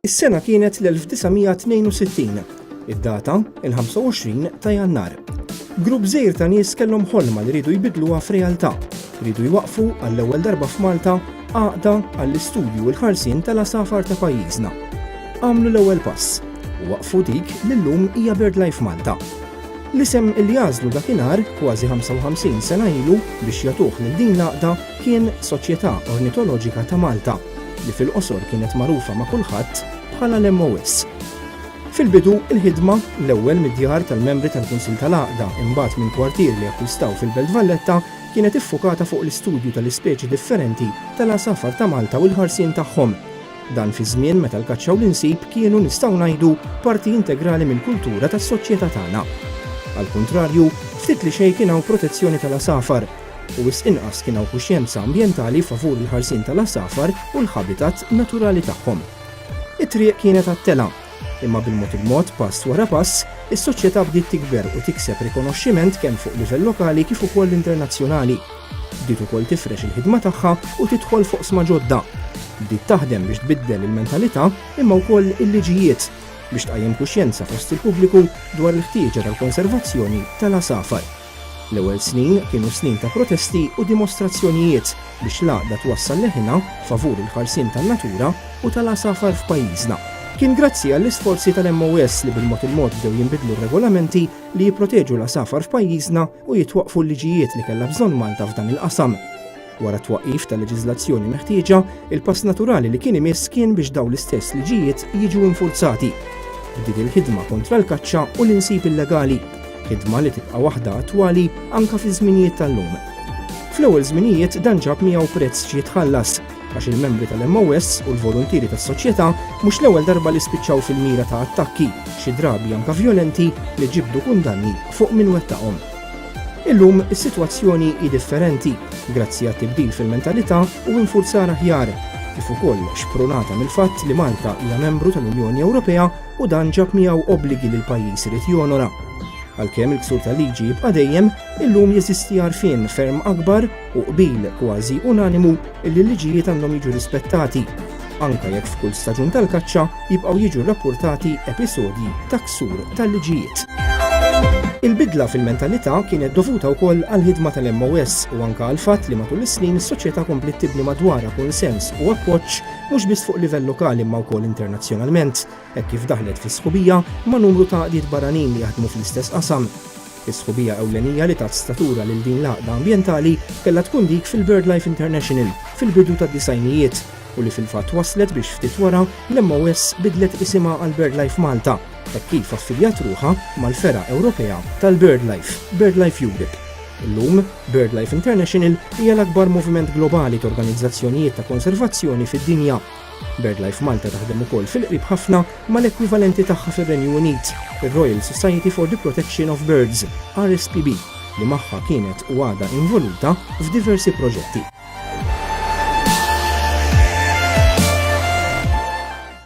Is-sena kienet l-1962, id-data il-25 ta' jannar. Grupp żejr ta' nies kellhom ħolma li ridu jbidluha f'realtà, ridu jwaqfu għall-ewwel darba f'Malta Għaqda għall-istudju u l-ħarsien tal-għasafar ta' pajjiżna. Għamlu l-ewwel pass u waqfu dik li llum hija BirdLife Malta. L-isem li għażlu dakinhar kważi 55 sena ilu biex jagħtuh lil din l-għaqda kien Soċjetà Ornitoloġika ta' Malta li fil-qosor kienet magħrufa ma' kulħadd bħala l-MOS. Fil-bidu, il-ħidma, l-ewwel mid-djar tal-membri tal-Kunsill tal-Għaqda, imbagħad minn kwartier li akkwistaw fil-Belt Valletta, kienet iffukata fuq l-istudju tal-ispeċi differenti tal-għasafar ta' Malta u l-ħarsien tagħhom. Dan fi żmien meta l-kaċċa u l-insib kienu nistgħu ngħidu parti integrali mill-kultura tas-soċjetà tagħna. Għall-kuntrarju, ftit li xejn kien hawn protezzjoni tal-għasafar, u wisq inqas kien hawn kuxjenza ambjentali favur il-ħarsien tal-għasafar u l-ħabitat naturali tagħhom. It-triq kienet għat-telgħa. Imma bil-mod il-mod, pass wara pass, is-Soċjetà bdiet tikber u tikseb rikonoxximent kemm fuq livell lokali kif ukoll internazzjonali. Bdiet ukoll tifrex il-ħidma tagħha u tidħol f'oqsma ġodda. Bdiet taħdem biex tbiddel il-mentalità imma wkoll il-liġijiet biex tqajjem kuxjenza fost il-pubbliku dwar il-ħtieġa tal-konservazzjoni tal-għasafar. L-ewwel snin kienu snin ta' protesti u dimostrazzjonijiet biex l-għaqda twassal leħinha favur il-ħarsien tan-natura u tal-għasafar f'pajjiżna. Kien grazzi għall-isforzi tal-MOS li bil-mod il-mod bdew jinbidlu r-regolamenti li jipproteġu l-għasafar f'pajjiżna u jitwaqqfu l-liġijiet li kellha bżonn Malta f'dan il-qasam. Wara t-twaqqif tal-leġiżlazzjoni meħtieġa, il-pass naturali li kien imiss kien biex dawn l-istess liġijiet jiġu infurzati. Bdiet il-ħidma kontra l-kaċċa u l-insib illegali, ħidma li tibqa' waħda attwali anke fiż-żminijiet tal-lum. Fl-ewwel żminijiet dan ġab miegħu prezz xi jitħallas, għax il-membri tal-MOS u l-voluntieri tas-soċjetà mhux l-ewwel darba li spiċċaw fil-mira ta' attakki, xi drabi anke vjolenti, li ġibdu kundanni fuq min wettaqhom. Illum is-sitwazzjoni hi differenti grazzi għat-tibdil fil-mentalità u infurzar aħjar, kif ukoll xprunata mill-fatt li Malta hija membru tal-Unjoni Ewropea u dan ġab miegħu obbligi li l-pajjiż irid jonora. Għalkemm il-ksur tal-liġi jibqa' dejjem, illum jeżisti għarfien ferm akbar u qbil kważi unanimu li l-liġijiet għandhom jiġu rispettati anke jekk f'kull staġun tal-kaċċa jibqgħu jiġu rrappurtati episodji ta' ksur tal-liġijiet. Il-bidla fil-mentalità kienet dovuta wkoll għall-ħidma tal-MOS u anke għal fatt li matul is-snin is-soċjetà kompliet tibni madwara kunsens u appoġġ mhux biss fuq livell lokali imma wkoll internazzjonalment, hekk kif daħlet fis-sħubija ma' numru ta' għaqdiet barranin li jaħdmu fl-istess qasam. Is-sħubija ewlenija li tat statura lil din l-għaqda ambjentali kellha tkun dik fil-BirdLife International fil-bidu tad-disgħinijiet u li fil-fatt wasslet biex ftit wara l-MOS bidlet isimha għal BirdLife Malta hekk kif affiljat ruħha mal-fergħa Ewropea tal-BirdLife, BirdLife Europe. Illum, BirdLife International hija l-akbar moviment globali t'organizzazzjonijiet ta' konservazzjoni fid-dinja. BirdLife Malta taħdem ukoll fil-qrib ħafna mal-ekwivalenti tagħha fir-Renju Unit, ir-Royal Society for the Protection of Birds, RSPB, li magħha kienet u għadha involuta f'diversi proġetti.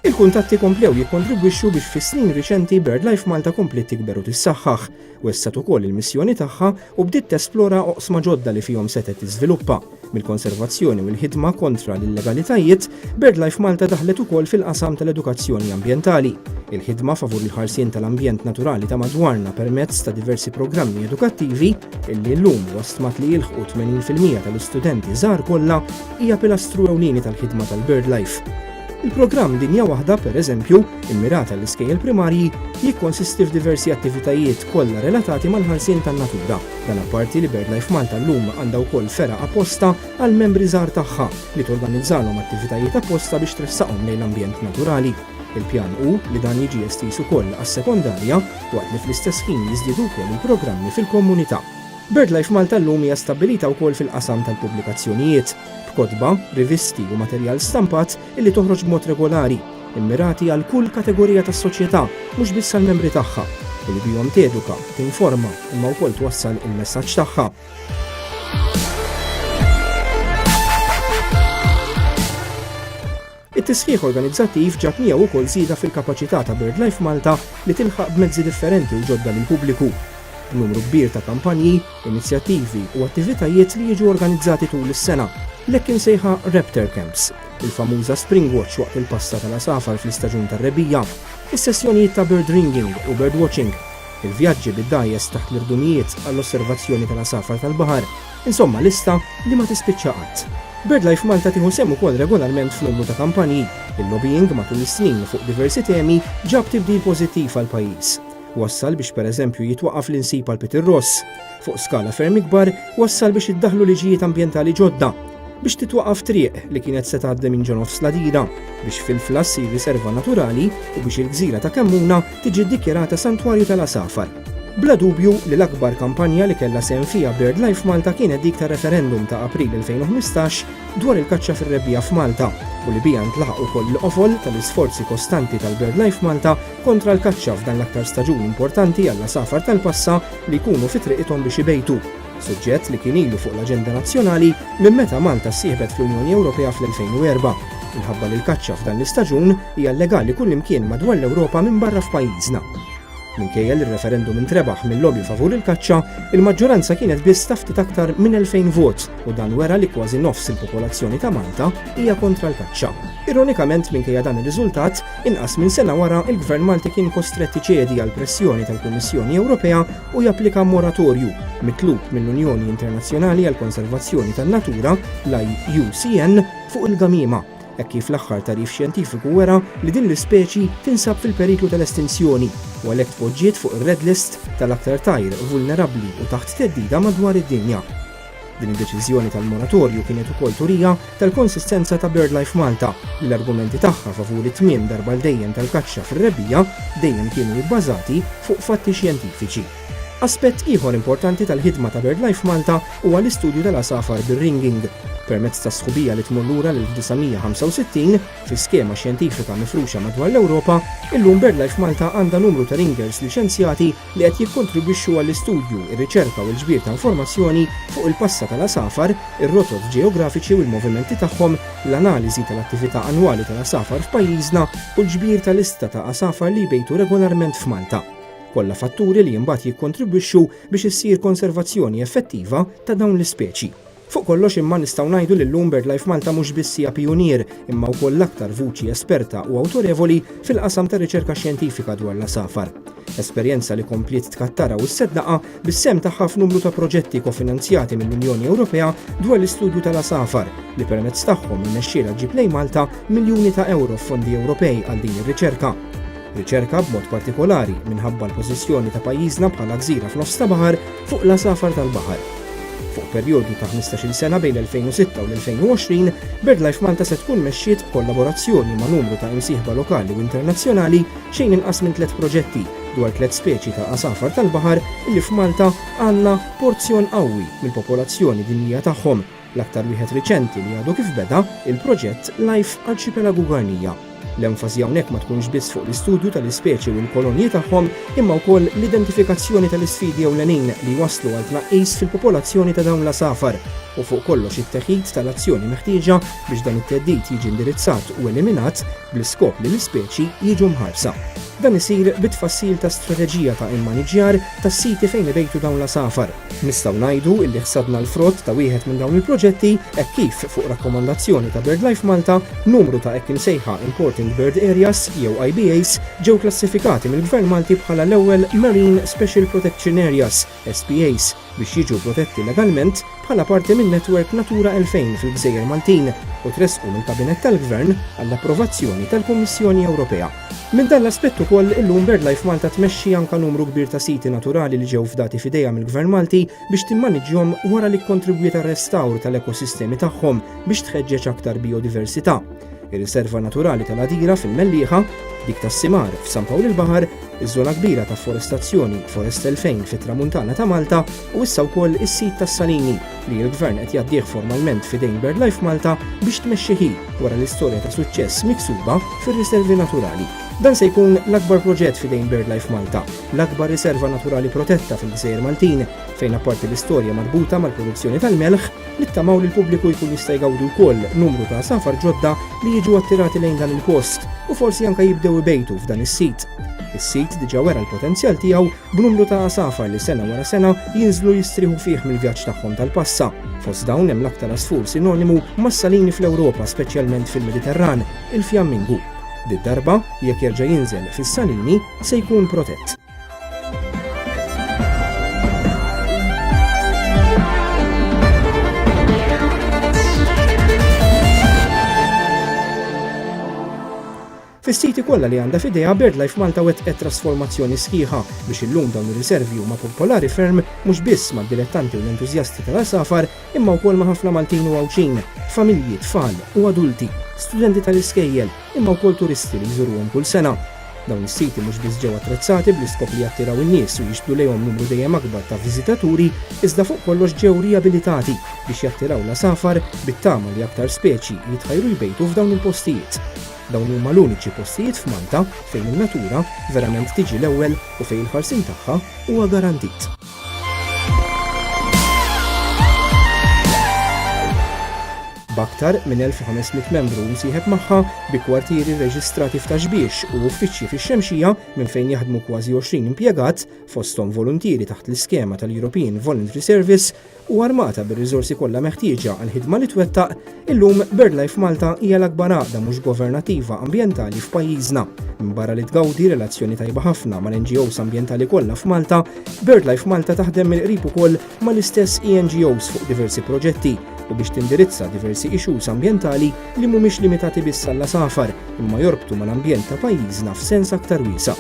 Il-kuntatti komplew jikkontribwixxu biex fis-snin riċenti BirdLife Malta kompliet tikber u tissaħħaħ. Wessgħet ukoll il-missjoni tagħha u bdiet tesplora oqsma ġodda li fihom setgħet tiżviluppa, mill-konservazzjoni u l-ħidma kontra l-illegalitajiet, BirdLife Malta daħlet ukoll fil-qasam tal-edukazzjoni ambjentali, il-ħidma favur il-ħarsien tal-ambjent naturali ta' madwarna permezz ta' diversi programmi edukattivi, illi llum huwa stmat li jilħqu 80 fil-mija tal-istudenti żgħar kollha, hija pilastru ewlieni tal-ħidma tal-BirdLife. Il-programm Dinja Waħda, per eżempju, immirat għall-iskejjel primarji, jikkonsisti f'diversi attivitajiet kollha relatati mal-ħarsien tan-natura. Dan apparti li BirdLife Malta llum għandha wkoll fergħa apposta għall-membri żgħar tagħha li torganizzalhom attivitajiet apposta biex tressaqhom lejn l-ambjent naturali. Il-pjan hu li dan jiġi estiż ukoll għas-sekondarja waqt li fl-istess ħin jiżdiedu wkoll il-programmi fil-komunità. BirdLife Malta llum hija stabbilita wkoll fil-qasam tal-pubblikazzjonijiet. b'kotba, rivisti u materjal stampat illi toħroġ b'mod regolari, immirati għal kull kategorija tas-soċjetà, mhux biss għall-membri tagħha, u li bihom teduka, tinforma, imma wkoll twassal il-messaġġ tagħha. It-tisħiħ organizzattiv ġab miegħu wkoll żieda fil-kapaċità ta' BirdLife Malta li tilħaq b'mezzi differenti u ġodda lill-pubbliku, b'numru kbir ta' kampanji, inizjattivi u attivitajiet li jiġu organizzati tul is-sena, l-hekk imsejħa Raptor Camps, il-famuża Springwatch waqt il-passa tal-għasafar fl-istaġun tar-rebbiegħa, is-sessjonijiet ta' birdringing u birdwatching, il-vjaġġi bid-dgħajjes taħt l-irdumijiet għall-osservazzjoni tal-għasafar tal-baħar, Insomma lista li ma tispiċċa qatt. BirdLife Malta tieħu sehem ukoll regolarment f'numru ta' kampanji. Il-lobbying matul is-snin fuq diversi temi ġab tibdil pożittiv għall-pajjiż. Wassal biex pereżempju jitwaqqaf l-insib għal Peter Ross. Fuq skala ferm ikbar, wassal biex iddaħħlu liġijiet ambjentali ġodda. Biex titwaqqaf triq li kienet se tgħaddi minn ġo nofs l-għadida. Biex fil-Fla ssir riserva naturali u biex il-gżira ta' Kemmuna tiġi ddikjarata Santwarju tal-Għasafar. Bla dubju li l-akbar kampanja li kellha sehem fiha BirdLife Malta kienet dik tar-referendum ta' April 2015 dwar il-kaċċa fir-rebbiegħa f'Malta u li biha ntlaħaq ukoll il-qofol tal-isforzi kostanti tal-BirdLife Malta kontra l-kaċċa f'dan l-aktar staġun importanti għall-għasafar tal-passa li jkunu fi triqithom biex ibejtu. suġġett li kien ilu fuq l-aġenda nazzjonali minn meta Malta ssieħbet fl-Unjoni Ewropea fl-2004, minħabba li l-kaċċa f'dan l-istaġun hija llegali kullimkien madwar l-Ewropa minbarra f'pajjiżna. Minkejja li r-referendum intrebaħ mil-lobby favur il-kaċċa, il-maġġoranza kienet biss ta' ftit aktar minn 2000 vot u dan wera li kważi nofs il-popolazzjoni ta' Malta hija kontra l-kaċċa. Ironikament minkejja dan ir-riżultat, inqas minn sena wara il-Gvern Malti kien kostrett iċedi għal pressjoni tal-Kummissjoni Ewropea u japplika moratorju mitlub mill-Unjoni Internazzjonali għall-Konservazzjoni tan-Natura, l-IUCN, fuq il-gamiema, hekk kif l-aħħar tagħrif xjentifiku wera li din l-ispeċi tinsab fil-periklu tal-estinzjoni u għalhekk tpoġġiet fuq ir-red list tal-aktar tajr vulnerabbli u taħt theddida madwar id-dinja. Din id-deċiżjoni tal-moratorju kienet ukoll turija tal-konsistenza ta' BirdLife Malta li l-argumenti tagħha favur it-tmiem darba l dejjem tal-kaċċa fir-rebbiegħa dejjem kienu ibbażati fuq fatti xjentifiċi. Aspett ieħor importanti tal-ħidma ta' BirdLife Malta huwa l-istudju tal-għasafar bir-ringing. Permezz ta' sħubija li tmur lura lil 1965 fi skema xjentifika mifruxa madwar l-Ewropa, illum BirdLife Malta għandha numru ta' ringers liċenzjati li qed jikkontribwixxu għall-istudju, ir-riċerka u l-ġbir ta' informazzjoni fuq il-passa tal-għasafar, ir-rotot ġeografiki u l-movimenti tagħhom, l-analiżi tal-attività annwali tal-għasafar f'pajjiżna u l-ġbir ta' lista ta' għasafar li jbejtu regolarment f'Malta. Kollha fatturi li imbagħad jikkontribwixxu biex issir konservazzjoni effettiva ta' dawn l-ispeċi. Fuq kollox imma nistgħu ngħidu li llum BirdLife Malta mhux biss hija pijunier, imma wkoll l-aktar vuċi esperta u awtorevoli fil-qasam tar-riċerka xjentifika dwar l-għasafar. Esperjenza li kompliet tkattara u sseddaqha bis-sehem tagħha f'numru ta' proġetti kofinanzjati mill-Unjoni Ewropea dwar l-istudju tal-għasafar, li permezz tagħhom irnexxielha ġġib lejn Malta miljuni ta' ewro f'fondi Ewropej għal din ir-riċerka. Riċerka b'mod partikolari minħabba l-pożizzjoni ta' pajjiżna bħala gżira f'nofs ta' baħar fuq l-għasafar tal-baħar. Fuq perjodu ta' 15-il sena bejn l-2006 u l-2020, BirdLife Malta se tkun mexxiet b'kollaborazzjoni ma' numru ta' imsieħba lokali u internazzjonali xejn inqas minn tliet proġetti dwar tliet speċi ta' għasafar tal-baħar illi f'Malta għandna porzjon qawwi mill-popolazzjoni dinjija tagħhom L-aktar wieħed riċenti li għadu kif beda, il-proġett Life Archipelago Guarnia. L-enfasi hawnhekk ma tkunx biss fuq l-istudju tal-ispeċi u l-kolonji tagħhom, imma wkoll l-identifikazzjoni tal-isfidi ewlenin li jwasslu għal tnaqqis fil-popolazzjoni ta' dawn l-għasafar, u fuq kollox it-teħid tal-azzjoni meħtieġa biex dan it-theddid jiġi indirizzat u eliminat bl-iskop li l-ispeċi jiġu mħarsa. Dan isir bit-tfassil ta' strateġija ta' immaniġġjar tas-siti fejn ibejtu dawn l-għasafar. Nistgħu ngħidu li ħsadna l-frott ta' wieħed minn dawn il-proġetti hekk kif, fuq rakkomandazzjoni ta' BirdLife Malta, numru ta' hekk imsejħa Important Bird Areas, jew IBAs, ġew klassifikati mill-Gvern Malti bħala l-ewwel Marine Special Protection Areas, SPAs, biex jiġu protetti legalment bħala parti min-netwerk Natura 2000 fil-gżejjer Maltin u tressqu mill-Kabinett tal-Gvern għall-approvazzjoni tal-Kummissjoni Ewropea. Minn dan l-aspett ukoll, illum BirdLife Malta tmexxi anke numru kbir ta' siti naturali li ġew fdati f'idejha mill-Gvern Malti biex timmaniġġjhom wara li kkontribwiet għar-restawr tal-ekosistemi tagħhom biex tħeġġeġ aktar bijodiversità. ir-Riserva Naturali tal-Għadira fil-Mellieħa, dik tas-Simar f'San Pawl il-Baħar, iż-żona kbira ta' forestazzjoni Forest 2000 fit-Tramuntana ta' Malta u issa wkoll is-sit tas-Salini li l-Gvern qed jgħaddih formalment f'idejn BirdLife Malta biex tmexxi hi wara l-istorja ta' suċċess miksuba fir-riservi naturali. Dan se jkun l-akbar proġett f'idejn BirdLife Malta, l-akbar riserva naturali protetta fil-Gżejjer Maltin, fejn apparti l-istorja marbuta mal-produzzjoni tal-melħ, Nittamaw li l-pubbliku jkun jista' jgawdi wkoll numru ta' għasafar ġodda li jiġu attirati lejn dan il-post u forsi anke jibdew ibejtu f'dan is-sit. Is-sit diġà wera l-potenzjal tiegħu b'numru ta' għasafar li sena wara sena jinżlu jistrieħu fih mill-vjaġġ tagħhom tal-passa. Fost dawn hemm l-aktar għasfur sinonimu mas-salini fl-Ewropa speċjalment fil-Mediterran, il-fjammingu. Did-darba, jekk jerġa' jinżel fis-salini, se jkun protett. Fis-siti kollha li għandha f'idejha BirdLife Malta wettqet trasformazzjoni sħiħa biex illum dawn ir-riservi huma popolari ferm mhux biss mad-dilettanti u l-entużjasti tal-għasafar imma wkoll ma' ħafna Maltin u Għawdxin, familji, tfal u adulti, studenti tal-iskejjel, imma wkoll turisti li jżuruhom kull sena. Dawn is-siti mhux biss ġew attrezzati bl-iskop li jattiraw in-nies u jixbdu lejhom numru dejjem akbar ta' viżitaturi, iżda fuq kollox ġew riabilitati biex jattiraw l-għasafar bit-tama li aktar speċi jitħajru jbejtu f'dawn il-postijiet. Dawn huma l-uniċi postijiet f'Malta fejn in-natura verament tiġi l-ewwel u fejn il-ħarsien tagħha huwa garantit. b'aktar minn 1500 membru msieħeb magħha bi kwartieri rreġistrati f'Taxbiex u uffiċċji fix-Xemxija minn fejn jaħdmu kważi 20 impjegat fosthom voluntieri taħt l-iskema tal-European Voluntary Service u armata bir-riżorsi kollha meħtieġa għall-ħidma li twettaq, illum BirdLife Malta hija l-akbar għaqda mhux governattiva ambjentali f'pajjiżna. Minbarra li tgawdi relazzjoni tajba ħafna mal-NGOs ambjentali kollha f'Malta, BirdLife Malta taħdem mill-qrib ukoll mal-istess ENGOs fuq diversi proġetti u biex tindirizza diversi issues ambjentali li mhumiex limitati biss għall-għasafar imma jorbtu mal-ambjent ta' pajjiżna f'sens aktar wiesa'.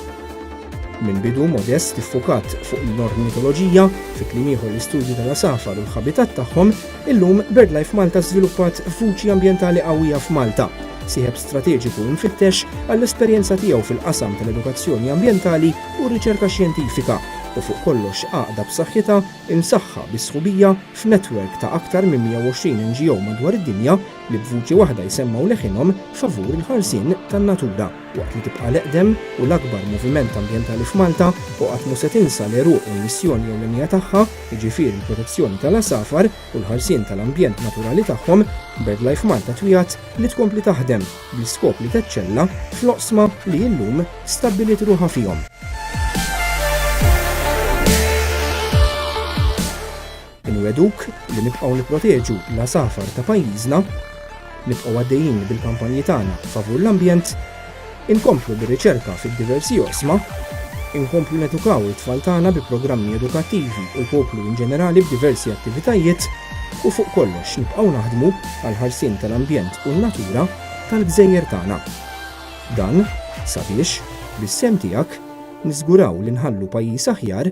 Minn bidu Modest iffukat fuq l-ornitoloġija, fi kliem ieħor l-istudju tal-għasafar u l-ħabitat tagħhom, illum BirdLife Malta żviluppat vuċi ambjentali qawwija f'Malta, sieħeb strateġiku imfittex għall-esperjenza tiegħu fil-qasam tal-edukazzjoni ambjentali u r-riċerka xjentifika, u fuq kollox għaqda b'saħħitha imsaħħa bi sħubija f'netwerk ta' aktar minn 120 NGO madwar id-dinja li b'vuċi waħda jsemmgħu leħinhom favur il-ħarsien tan-natura. Waqt li tibqa' l-eqdem u l-akbar moviment ambjentali f'Malta u qatt mhu se tinsa l-għeruq u l-missjoni ewlenija tagħha, jiġifieri l-protezzjoni tal-għasafar u l-ħarsien tal-ambjent naturali tagħhom, BirdLife Malta twiegħed li tkompli taħdem bl-iskop li teċċella fl-oqsma li illum stabbiliet ruħha fihom. Inwegħduk li nibqgħu nipproteġu l-għasafar ta' pajjiżna, nibqgħu għaddejjin bil-kampanji tagħna favur l-ambjent, inkomplu bir-riċerka fid-diversi oqsma, inkomplu nedukaw it-tfal tagħna bi programmi edukattivi u l-poplu in ġenerali b'diversi attivitajiet u fuq kollox nibqgħu naħdmu għal ħarsien tal-ambjent u n-natura tal-gżejjer tagħna. Dan sabiex, bis-sehem tiegħek, niżguraw li nħallu pajjiż aħjar